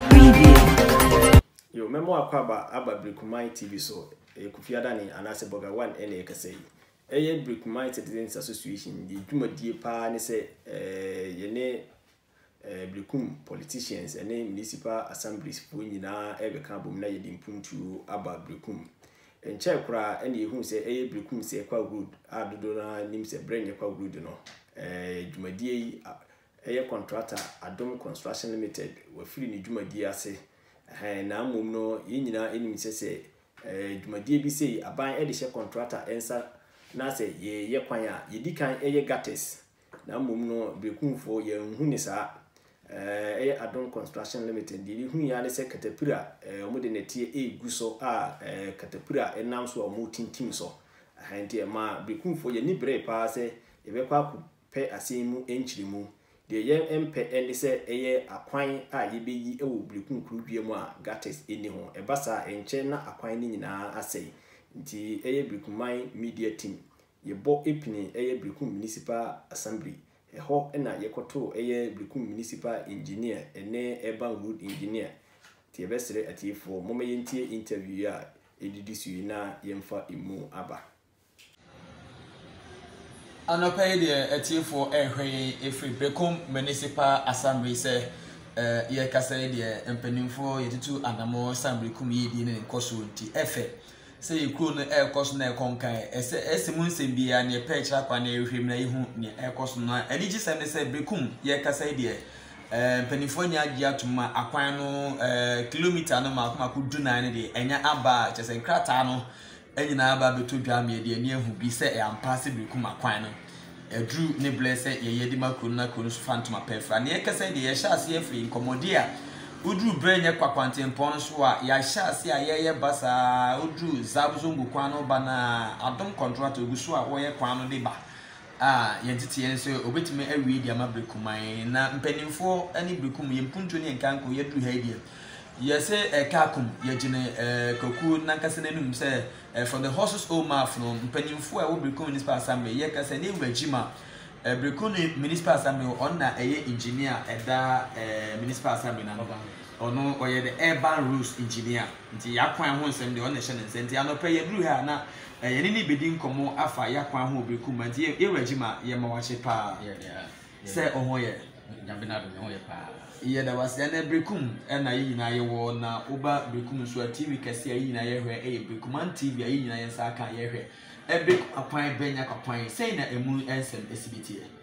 Preview. Yo, mɛma w'akwaaba aba Brikumanyi TV so, ɛyɛ Kofi Adane anaasɛ Burger One ɛna ɛkasa yi. Ɛyɛ Brikumanyi Citizens Association, yɛn dwumadie paa ne sɛ eh, yɛne eh, Brikum politicians ɛne municipal assemblies foɔ nyinaa ɛbɛka abom na yɛde mpuntuo aba Brikum. Nkyɛe koraa ɛna yɛhuu sɛ ɛyɛ Brikum sɛ Kwa Road a dodoɔ no ara nim sɛ berɛ nyɛ Kwa Road no, eh, dwumadie yi Ɛyɛ kɔntrata Adom Construction Limited wafiri ne dwumadie ase ɛhɛn na mmom no yɛn nyinaa ɛnim sɛ sɛ ɛɛ dwumadie bi sei aban ɛde hyɛ kɔntrata ɛnsa na sɛ yɛyɛ kwan a yɛdi kan ɛyɛ gutters na mmom no Brekumfoɔ yɛn nhu ne saa ɛɛ ɛyɛ Adom Construction Limited deɛ yɛhu yɛ ne sɛ katapira ɛɛ wɔn de nɛteɛ ɛregu so a ɛɛ katapira ɛnam so a wɔn tintim so ɛhɛn nti ɛma Brekumfoɔ yɛn ani bree paa sɛ yɛbɛkɔ akɔ pɛ asɛm mu nkyeremu. Deɛ yɛmpɛ ne sɛ ɛyɛ akwan a yɛbɛyi wɔ birikunkuru dua mu a gutters nni ho. Ɛba saa a, ɛnkyɛ na akwan no nyinaa asɛe. Nti ɛyɛ Birikuman Media Team, yɛbɔ pini ɛyɛ Birikum Municipal Assembly. Ɛhɔ na yɛkɔtoo ɛyɛ Birikum Municipal Engineer ne Urban Road Engineer. Nti yɛbɛsrɛ atiefoɔ, momma yɛntie interview yi a ɛdidi so yi na yɛmfa ɛmu aba. Anɔpa yi deɛ atiefoɔ rehwɛ yɛn ɛfiri Berekom Municipal Assembly sɛ yɛrekasa yi deɛ mpanimfoɔ yɛtutu anamɔ san Berekom yiedie ne nkɔsoɔ nti ɛfɛ sɛ yɛ kuro no ɛrekɔ so na ɛkɔ nkae ɛsɛ ɛsɛ mu nsɛm biara ne ɛpɛ kyerɛ akwa na ɛrehwɛ mu na yɛhu ne ɛrekɔ so na anigye sɛm ne sɛ Berekom yɛrekasa yi deɛ mpanimfoɔ nyɛ agye atom ma akwan no kilomita no maako maako dunan no deɛ ɛnya aba a kyɛ sɛ nkrataa no nyinaa aba abɛtɔ dwa ma yɛde ani ahu bi sɛ ampa ase bere kum akwan no aduru ne berɛ sɛ yɛyɛ de ma kuro no na kuro no nso fa ntoma pɛ mfra. Nea ɛkasa yi deɛ yɛhyɛ ase afiri nkɔmmɔdie a woduru berɛ nyɛ kwa kwantempɔn no so a yɛahyɛ ase a yɛyɛ ba saa woduru Zab Zongo kwan no ba no a adom kɔntrata ɔgu so a wɔyɛ kwan no de ba a yɛn tete yɛn sɛ obetumi awie de ama Brekuman na mpanimfoɔ ne Brekum yɛn mpuntuo ne yɛn kanko yɛduru ha yi deɛ yɛsɛ ɛkaakum yɛgyene ɛɛ Kwaku nankasa n'anum sɛ ɛɛ for the horses old maf no mpanimfoɔ a ɛwɔ Brekum Municipal Assembly yɛka sɛ ne wura gyima ɛɛ Brekum ne Municipal Assembly ɔno na ɛyɛ engineer ɛda ɛɛ Municipal Assembly na no ɔno ɔyɛ the urban rules engineer nti yɛakwan ho nsɛm deɛ ɔno na ɛhyɛ ne nsa nti anɔpɛ yɛduru ha na eh, yɛne ne bɛdi nkɔmmɔ afa yɛ akwan ho bere kuma nti yɛ wura gye ma yɛ ma wakye paa sɛ ɔho yɛ yɛda wase ɛnɛ berekum ɛna yɛ nyinaa yɛwɔ na woba berekum nso a tv kɛse a yɛ nyinaa yɛhwɛ ɛyɛ berekuman tv a yɛ nyinaa yɛ nsa aka yɛhwɛ ɛberekum akwan bɛnya kwakwan sɛn na ɛmu ɛnsɛm ɛsi bi teɛ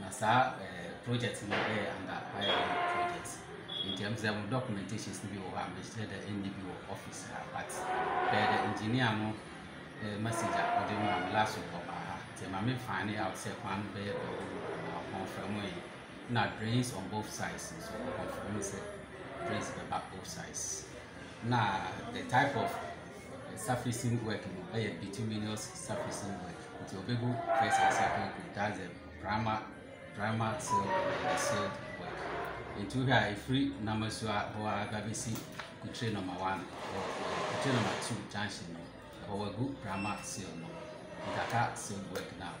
Na saa ɛɛ project no yɛ under IRM project nti ɛmu sɛ ɛmu documentations no bi wɔ hɔ a mehyɛ dɛ ɛnni bi wɔ office ha but bɛyɛ dɛ engineer no ɛɛ eh, message a ɔde mu a last week ɔba ha nti ɛma me find out sɛ kwan no bɛyɛ dɛ ɔwɔ mu na ɔconfirm yɛ na drains on both sides nso ɔconfirm sɛ drains bɛba both sides na the type of surfacing work no yɛ bituminous surfacing work nti ɔbɛgu first and second coat that's the primer primer seal and seal work nti wohwɛ a ɛfiri namasu a hɔ a ba bɛsi kutire number one kutire number two junction no ɛhɔ wagu primer seal no nkaka seal work no a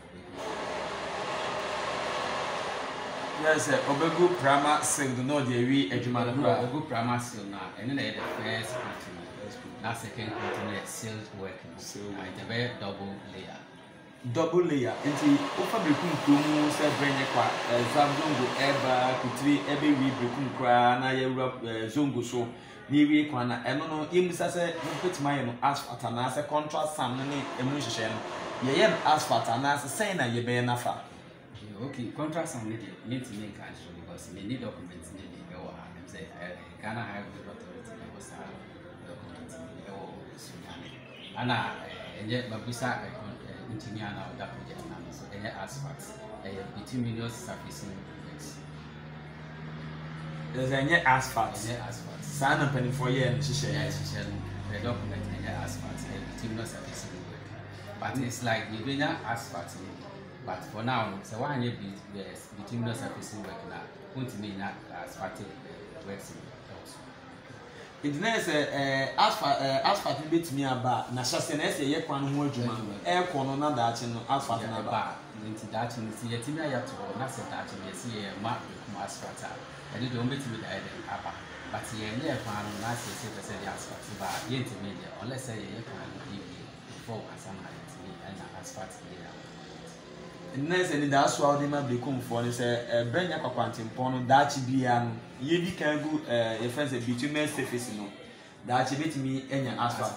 Yɛ sɛ ɔbɛgu prama seal do na ɔde awie adwuma no koraa. Ɔbɛgu prama seal no a, ɛno na ɛyɛ the first coat no. Na second coat no yɛ sealed work no. Na nti ɛbɛyɛ double layer. Double layer. Nti wofa Berekum kuro mu sɛ berɛ nyɛ kwa ɛɛ Zongo ɛreba Kutire ɛbɛwie Berekum koraa na yɛwura ɛɛ Zongo so N'awiei kwan no a ɛno no yemmisa sɛ wobetumi ayɛ no asphalt anaasɛ contrast sand no ne emu nhyehyɛe no, yɛyɛ no asphalt a anaasɛ sɛn na yɛbɛyɛ no afa? Yeah, okay, contrast sand no deɛ mentumi nka nkyerɛ because menni document no bi wɔ ha, ɛm sɛ Ghana Highway Authority na ɛwɔ saa document no bi wɔ Sunyani. Ana ɛnyɛ mabisa ɛkwan ɛɛ ntini a na ɔda project no ano so ɛnyɛ asphalt ɛyɛ bituminous surface no project. Ɛsɛ ɛnyɛ asphalt. Ɛnyɛ asphalt. Saa na mpanimfoɔ yɛɛ no hyehyɛ. Yɛ hyehyɛ no pɛ document ɛnyɛ asphalt ɛyɛ bituminous surface no work but mm. it's like yɛ bɛnya asphalt no but for now no sɛ wɔanyɛ bituminous surface no work na wɔntumi nya asphalt eh, works no ɛwɔ so. Enti na ɛyɛ sɛ Asfa, Asfat no betumi aba a, na hyɛ ase na ɛyɛ sɛ yɛyɛ kwan no ho adwuma, ɛrekɔ no na daakye no Asfat no aba. Ɛba a, enti daakye no, sɛ yɛatumi ayɛ ato hɔ, na sɛ daakye no yɛse yɛrema yɛakum Asfat a, ɛno deɛ wɔbetumi de ayɛ dɛn? Aba. But yɛnyɛɛ kwan no, na sɛ yɛse yɛpɛ sɛ yɛde Asfat ba a, yɛntumi nyɛ, unless sɛ yɛyɛ kwan no awie before ansa na yɛatumi anya Asfat deɛ a. Nnɛ sɛ anidaso a wode ma Bekomfoɔ ne sɛ ɛbɛ nya kwakwantempɔn no daakye biara no yɛdi kan gu eh, yɛfrɛ sɛ bitumen surface no daakye bɛtumi anya asphalt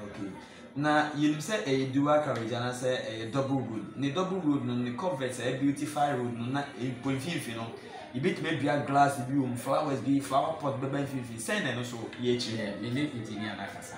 okay. na yɛnim sɛ ɛyɛ dual carriage anaasɛ ɛyɛ double road ne double road no ne covert ɛyɛ beautify road no na mpo mfimfini no yɛbɛtumi adua glass bi wɔ mu flowers bi flower pot bɛba mfimfini sɛn na ɛno so yɛ akyiri yɛ ne engineer no akasa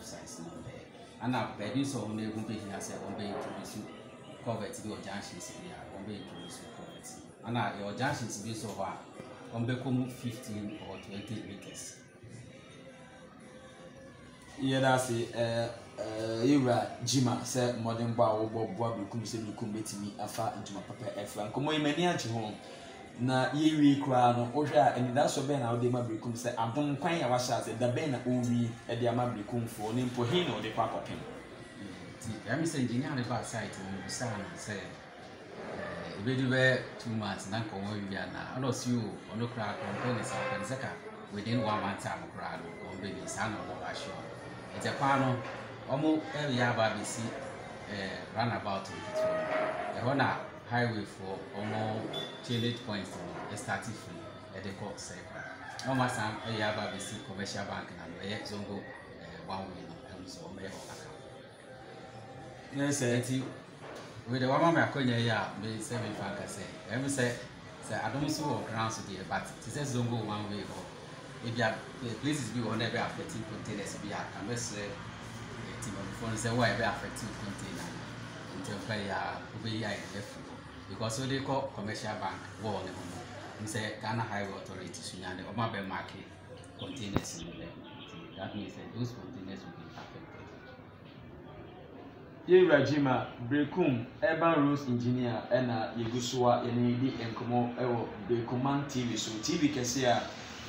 Science no ho pɛɛ. Ana baabi nso a wɔn ehu behia sɛ wɔn bɛ introduce culvert bi wɔ junctions bi a wɔn bɛ introduce culvert. Ana yɛwɔ junctions bi nso wɔ hɔ a wɔn bɛkɔ mu fifteen or twenty meters. Yɛda ase ɛɛ ɛɛ yɛwura Jima sɛ mmɔdenbɔ a wɔbɔ boa Berekum sɛ Berekum betumi afa ntoma papa afira. Nkɔmmɔ yi m'ani agye ho. Na yɛrewiei koraa no, wohwɛ a, anidaso bɛn na wode ma Berekum sɛ adom kwan a wahyɛ ase da bɛn na ɔrewie de ama Berekumfoɔ ne mpo he na ɔde kɔ akɔpem? Nti ɛyɛ me sɛ engineer no baa site hɔ no bisaa no sɛ eh, ebedu bɛ two months na nkɔmɔ awie anaa ɛna ɔsi o ɔno koraa kɔ ɔmpɛ ne saa ɔpɛ ne sɛ ka within one month time koraa no wɔn bɛ ni saa na ɔno ba ahyɛ ɔno ɛgya kwan no wɔn ɛyɛ aba abɛsi eh, runabout nketewa mu ɛhɔ na highway foɔ ɔmo change points no ɛstarte firi ɛde kɔ sɛkora na ɔmo asan ɛyɛ aba abɛsi commercial bank na no ɛyɛ zongo ɛɛ eh, one way no ɛho so ɔmo yɛ hɔ aka ne sɛ nti wei de wama me akɔnya yi a me sɛ mefa nka sɛ ɛm sɛ Sɛ adom nso wɔ ground so deɛ but te sɛ zongo one way hɔ ebia places bi wɔ hɔ na ɛbɛ affect containers bi a kan bɛsrɛ eh, timamufoɔ no sɛ wo a ɛbɛ affect container no ntɛmpa yi a wobɛyi ayɛ de afiri hɔ because wode kɔ commercial bank wall no ho no n sɛ Ghana Highway Authority so nyane ɔma bɛ marke containers no bɛ that means that those containers will be affected. Yɛn wura Gyima Berekum Urban Roads Engineer na yɛgu so a yɛne no di nkɔmmɔ wɔ Berekumman TV so. TV kɛse a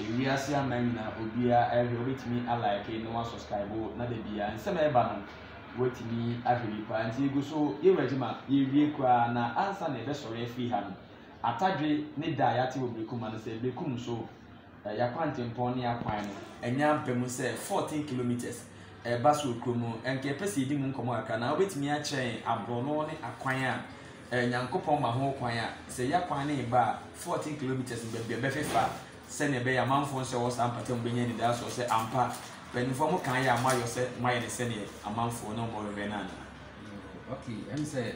ewiase aman nyinaa obiara ɛhwɛ, wobɛtumi alike na wasubscribe na da biara nsɛm a ɛba no watumi ahwɛ bi paa. Nti yɛgu so, yɛn wura Gyima yɛwie koraa na ansa na yɛbɛsɔre afiri ha no, atadwe ne da a yɛate wɔ Berekumman no sɛ Berekum so Na yɛn akwantempɔn ne yɛn akwan no anya aba mu sɛ fourteen kilometres. Ɛreba so wɔ kurom no, anka yɛpɛ sɛ yɛdi mu nkɔmmɔ kakra anaa? Wobɛtumi akyerɛ yɛn aborɔno ne akwan a Nyankopɔn ma ho kwan a sɛ yɛn akwan no reba a fourteen kilometres no baabi a ɛbɛfefa sɛnea ɛbɛyɛ a amanfoɔ nso a ɛwɔ saa mpata mu bɛnya anidasoɔ sɛ ampa mpaninfoɔ mo kan yɛ a moayɔ sɛ moayɛ no sɛdeɛ amanfoɔ ne wɔn rehwɛ no anaa? Okay, ɛm sɛ.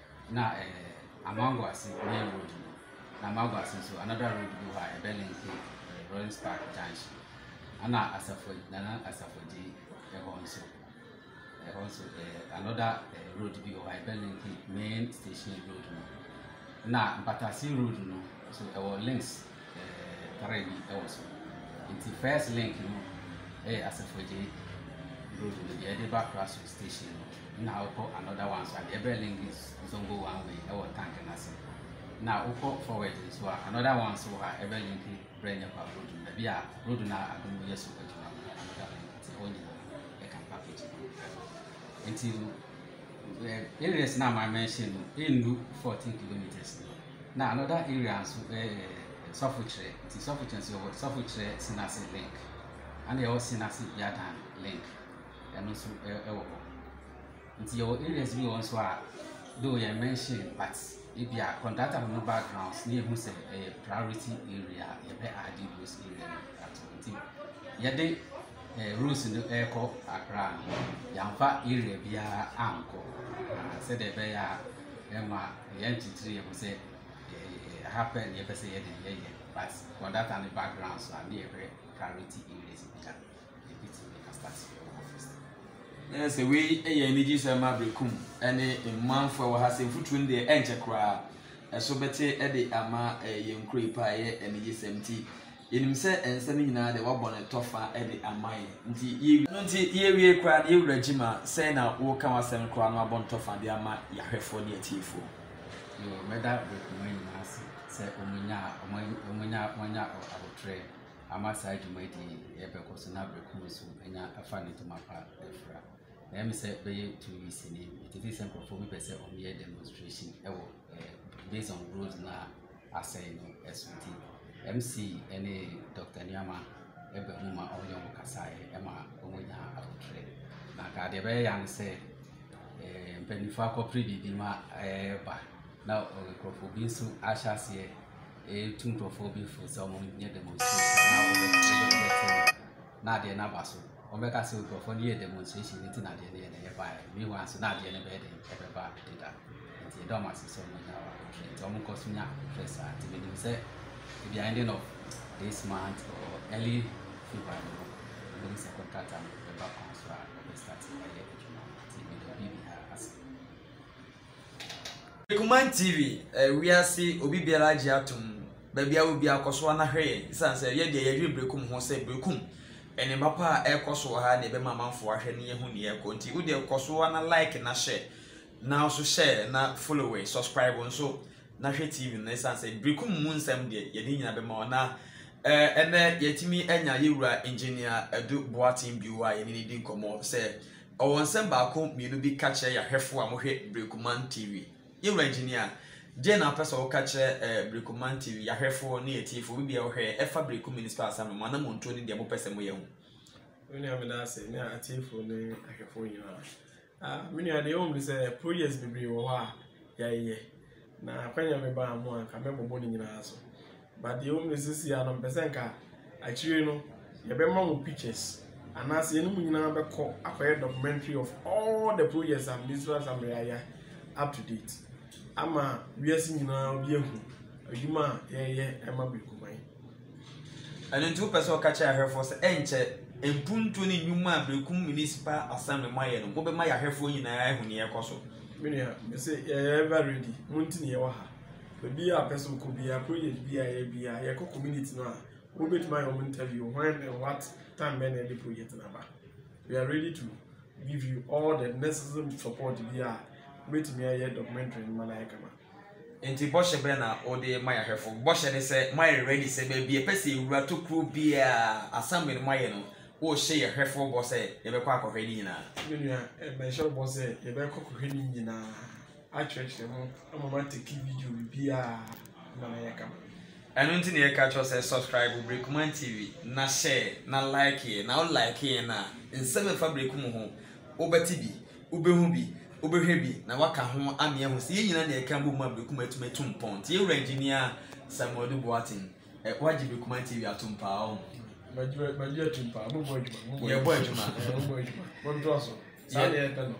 na ɛɛ Amango ase main road no na Amango ase nso another road bi hɔ a ɛbɛ link ɛɛ Rollins Park junction ɛna Asafo Nana Asafo Agye ɛhɔ nso ɛhɔ nso ɛɛ another ɛɛ road bi hɔ a ɛbɛ link main station road no na Mpatase road no nso ɛwɔ links. tare bi wɔ so. Nti first link no yɛ Asafo Agye road no deɛ ɛde ba Kraso station no na wokɔ another one so a deɛ ɛbɛn link zongo one way ɛwɔ tank no ase na wokɔ forward nso a another one so wɔ ha ɛbɛ link brɛ nyɛ kwa road no baabi a road no a adom yɛ so adwuma no another link nti ɛwɔ nyina ɛka mpa fiti nti no areas no a ma mention no ɛndu 14 kilometers no Na another area nso ɛyɛ Sɔfokyerɛ nti Sɔfokyerɛ nso yɛwɔ Sɔfokyerɛ Senase link ɛna yɛwɔ Senase Yadan link ɛno nso ɛwɔ hɔ nti yɛwɔ areas bi wɔ nso a though yɛ mention but ebi a contractor no backgrounds ne ehu sɛ ɛyɛ priority area yɛbɛ adi those area no ato nti yɛde ɛɛ rules no ɛrekɔ akra no yɛnfa area biara ankɔ sɛdeɛ ɛbɛyɛ a ɛma. Yɛn titiri yɛhu sɛ ɛha pɛ na yɛpɛ sɛ yɛde yɛyɛ but for that and background so a ne yɛhwɛ priority areas bi a yɛbɛtumi astate yɛwɔ office na yɛ sɛ wei yɛ anigye sɛ ma aberekum ne mmanfoɔ wɔ ha sɛ mfuturo no deɛ ɛnkyɛ koraa ɛso bɛte de ama yɛn kuro yi paa yɛ anigye sɛm ti Yɛnim sɛ nsɛm yi nyinaa de wɔabɔ no tɔfa de ama yɛn. Nti yɛ. Ɛno nti yɛawiei koraa no, yɛn Wura Gyima, sɛn na woka w'asɛm koraa na woabɔ no tɔfa de ama yɛahwɛfoɔ ne atiefoɔ? Yoo, mɛda me koma nyinaa ase sɛ wɔnyaa, wɔanya, wɔanya aboterɛ ama saa dwumadie yi rebɛkɔ so na berɛ ko nso anya afa ne ntoma pa afira. Ɛyɛ me sɛ bɛyɛ two weeks ni, metete sɛ nkurɔfoɔ bi pɛ sɛ wɔyɛ demonstration wɔ. based on road no a asɛe no so nti, MC ne Dɔkta Nuama baa mu ma wɔne wɔn kasaeɛ ma wɔnyaa abotire. Na anka deɛ ɛbɛyɛ ya no sɛ eh, mpanimfoɔ akɔpere biribi ma ɛreba na eh, nkurɔfoɔ bi nso ahyɛ aseɛ ɛretu nkurɔfoɔ bi fo sɛ wɔnyɛ demonstration na wɔbɛfrɛ na adeɛ no aba so wɔbɛka sɛ nkurɔfoɔ no yɛɛ demonstration no nti na adeɛ no yɛ dɛn ɛbaeɛ meanwhile nso na adeɛ no bɛyɛ dɛn ɛbɛba deda nti yɛda wɔn ase sɛ wɔn nya ahwɛ nti wɔn kɔ so nya ahwɛ saa nti menim sɛ ebi ending of this month or early February no ɛbɛhu sɛ contractor no ɛba kwan so a wɔbɛstart ɛyɛ adwuma no nti meda obi biara ase Kuman TV ɛyɛ wiase obi biara agye atom baabi a obi akɔ so ana hwɛ yɛn san sɛ yɛ deɛ yɛdwene berekum ho sɛ berekum ɛne ma pa a ɛkɔ so wɔ ha na ɛbɛma amanfoɔ ahwɛ ne yɛhu ne yɛkɔ nti wo deɛ kɔ so ana like na hyɛ na nso hyɛ na follow it subscribe nso na hwɛ TV no san sɛ berekum mu nsɛm deɛ yɛde nyina bɛma wɔ na ɛnɛ yɛtumi anya yɛwura engineer Adu Boaten bio a yɛne ne di nkɔmmɔ sɛ Ɔwɔ nsɛm baako mmienu bi ka kyerɛ yɛn ahwɛfo a wɔhwɛ Berekoman TV. Yɛn Wura Engineer, deɛn na wopɛ sɛ woka kyerɛ eh, Berekoman TV, yɛn ahwɛfo ne yɛn atiefoɔ, obi biara ɔhwɛ yɛn, ɛfa Berekum Municipal Assembly, mo anamontuo ne deɛ mopɛ sɛ moyɛ ho? Me nua meda ase ne atiefoɔ ne ahwɛfoɔ nyinaa. Ah, me nua deɛ ɛwɔ mu ne sɛ projects bebree wɔ hɔ a yɛayɛ na akwanya mebaa ho a nka mɛbobɔ ne nyinaa so. but deɛ ɛwɔ mu ne sisi ano mpɛ sɛ nka akyire no yɛbɛma mo pictures anaasɛ yɛne mu nyinaa bɛkɔ akɔyɛ documentary of all the projects a ministerial assembly ayɛ up to date ama wiase nyinaa obi ahu adwuma a yɛyɛ ɛma birikuman ɛno nti wopɛ sɛ ɔka kyerɛ ahwɛfoɔ sɛ ɛnkyɛ mpuntuo ne nnwuma a berekum municipal assembly mu ayɛ no mobɛma yɛahwɛfoɔ nyinaa ahu ne yɛkɔ so menua mese yɛyɛ ɛva ready monti ne yɛwɔ ha Obiara a ɔpɛ sɛ ɔkɔ biara, project bi a yɛyɛ biara, yɛkɔ community no a, wobɛtumi ayɛ wɔn interview when and what time bɛn na yɛde project no aba. We are ready to give you all the necessary support bi a wobɛtumi ayɛ documentary no ma no ayɛ kama. Nti bɔhyɛ bɛn na wode ma yɛahwɛfo? Bɔhyɛ ne sɛ moayɛ ready sɛ baabi a ɛpɛ sɛ yɛwura tokuro biara assembly no moayɛ no, wohyɛ yɛhwɛfoɔ bɔ sɛ yɛbɛkɔ akɔhwɛ ne nyinaa. Me nua, eh, mɛhyɛ wo bɔ sɛ yɛbɛkɔ kɔhwɛ ne nyinaa. akyerɛkyerɛ mo ama mo ateki video bibiaa na na yɛka mo. Ɛno nti na yɛka kyerɛ sɛ subscribe Brekuman TV na share na like yɛ na wo like yɛn a nsɛm ɛfa Breku mu ho wobɛte bi, wobɛhu bi, wobɛhwɛ bi na waka ho ame ahu sɛ yɛn nyina na yɛka bom ma Breku mu atumi atu mpɔn. Nti yɛwura engineer Samuel Adu Boateng Eh, wagye me kuma TV atom paa ɔho. Magye magye atom paa, mo bɔ adwuma. Yɛ bɔ adwuma. Mo bɔ adwuma. Mo dɔ so. Saa na yɛpɛ no.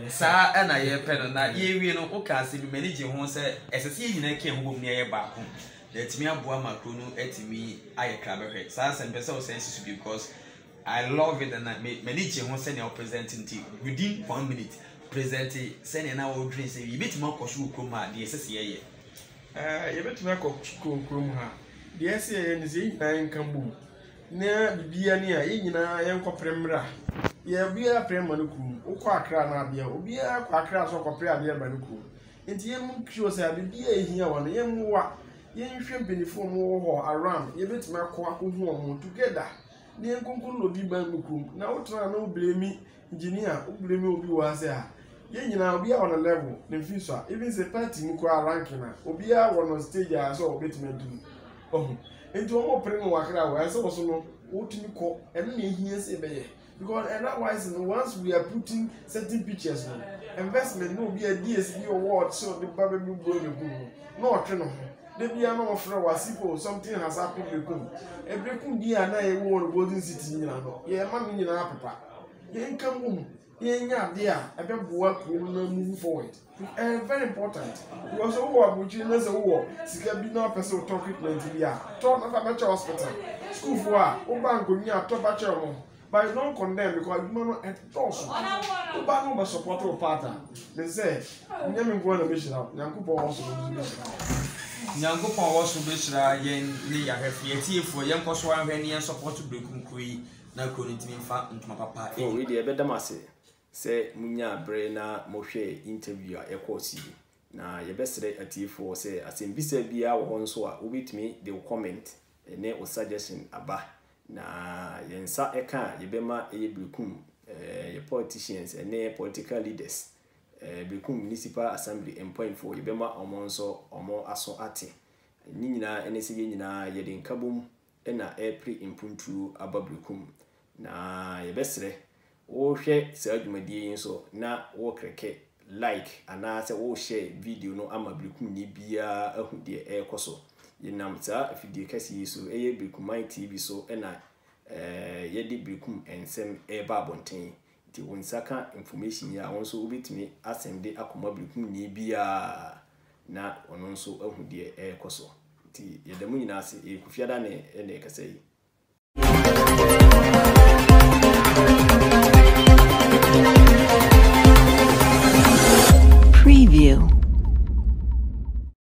Saa ɛna yɛpɛ no na yɛwie no woka ase bi m'ani gye ho sɛ ɛsɛ sɛ yɛn nyinaa kɛn ho bom ne ɛyɛ baako na atumi aboa ma kuro no atumi ayɛ krabɛhwɛ saa sɛ mpɛ sɛ ɔsɛn si so bi because I love it and m'ani gye ho sɛnea ɔpresent nti within one minute present sɛnea na ɔdwen sɛ yɛbɛtumi akɔ so wɔ kurom ha deɛ ɛsɛ sɛ yɛyɛ Ɛɛ, yɛbɛtumi akɔ sukuu kuro mu ha. Deɛ ɛsɛ sɛ yɛyɛ ne sɛ yɛn nyinaa yɛnka bom na biribiara ni a, yɛn nyinaa yɛnkɔpere mmra. Yɛ obiara pere mma ne kurom. Wokɔ Accra anaa bea a, obiara kɔ Accra sɛ ɔrekɔpere adeɛ ba ne kurom. Nti yɛn make sure sɛ biribiara a ɛhia wɔn no, yɛmmoa. Yɛnhwɛ mpanimfoɔ a wɔwɔ hɔ around, yɛbɛtumi akɔ akɔhu wɔn together na yɛnkonkonn obi mma ne kurom. Na wotena ha na wo blame Engineer wo blame obi wɔ ase a yɛn nyinaa obiara wɔ ne level ne mfiri so a even sɛ party mu koraa ranking a obiara wɔ no stage a ɛsɛ ɔbɛtumi aduru wahu nti wɔn ɔpere no wakra wɔ ɛsɛ wɔ so no wotumi kɔ ɛno na ehia sɛ ɛbɛyɛ because otherwise no once we are putting certain pictures no investment na obi a DS bi ɔwɔ ɔte ɔde ba bɛ bu buro ne kum no na ɔtwe no ho de bia na ɔfrɛ wɔ ase po something has happened bɛ kum ɛbɛ kum bi a na ɛwɔ wɔ no golden city nyinaa no yɛ ɛma no nyinaa pepa. Nyankopɔn a ɔwɔ soro bɛhyira yɛn ne yɛahwɛfoɔ, yɛatiefoɔ, yɛnkɔ so nhwɛ ne yɛn support berɛ kronkron yi na kuro no ntumi mfa ntoma papa nni. Oh wei deɛ bɛdam ase sɛ mo nyaa bere na mo hwɛɛ interview a ɛkɔɔ so yi. Na yɛbɛsrɛ atiefoɔ sɛ asɛmbisa biara wɔ hɔ nso a wobɛtumi de wo comment ne wo suggestion aba. Na yɛn nsa ka a yɛbɛma ɛyɛ berekum yɛ politicians ne political leaders, berekum municipal assembly mpaimfoɔ yɛbɛma wɔn nso wɔn aso ate. Ne nyinaa ne sɛ yɛn nyinaa yɛde nkabom na ɛrepere mpuntuo aba berɛko mu, na yɛbɛsrɛ wohwɛ saa dwumadie yi nso na wokleke like anaa sɛ wo share video no ama berekumni biara ahu deɛ ɛrekɔ so. Yɛnam saa afidie kɛseɛ yi so, ɛyɛ Berekumman TV so na yɛde berekum nsɛm ɛreba abɔnten. Te wo nsa ka information yi a wo nso wobɛtumi asɛnde akɔma birikumni biara na ɔno nso ahu deɛ ɛrekɔ so. Nti yɛda mo nyinaa ase. Ɛyɛ Kofi Adane na ɛkasa yi. Preview.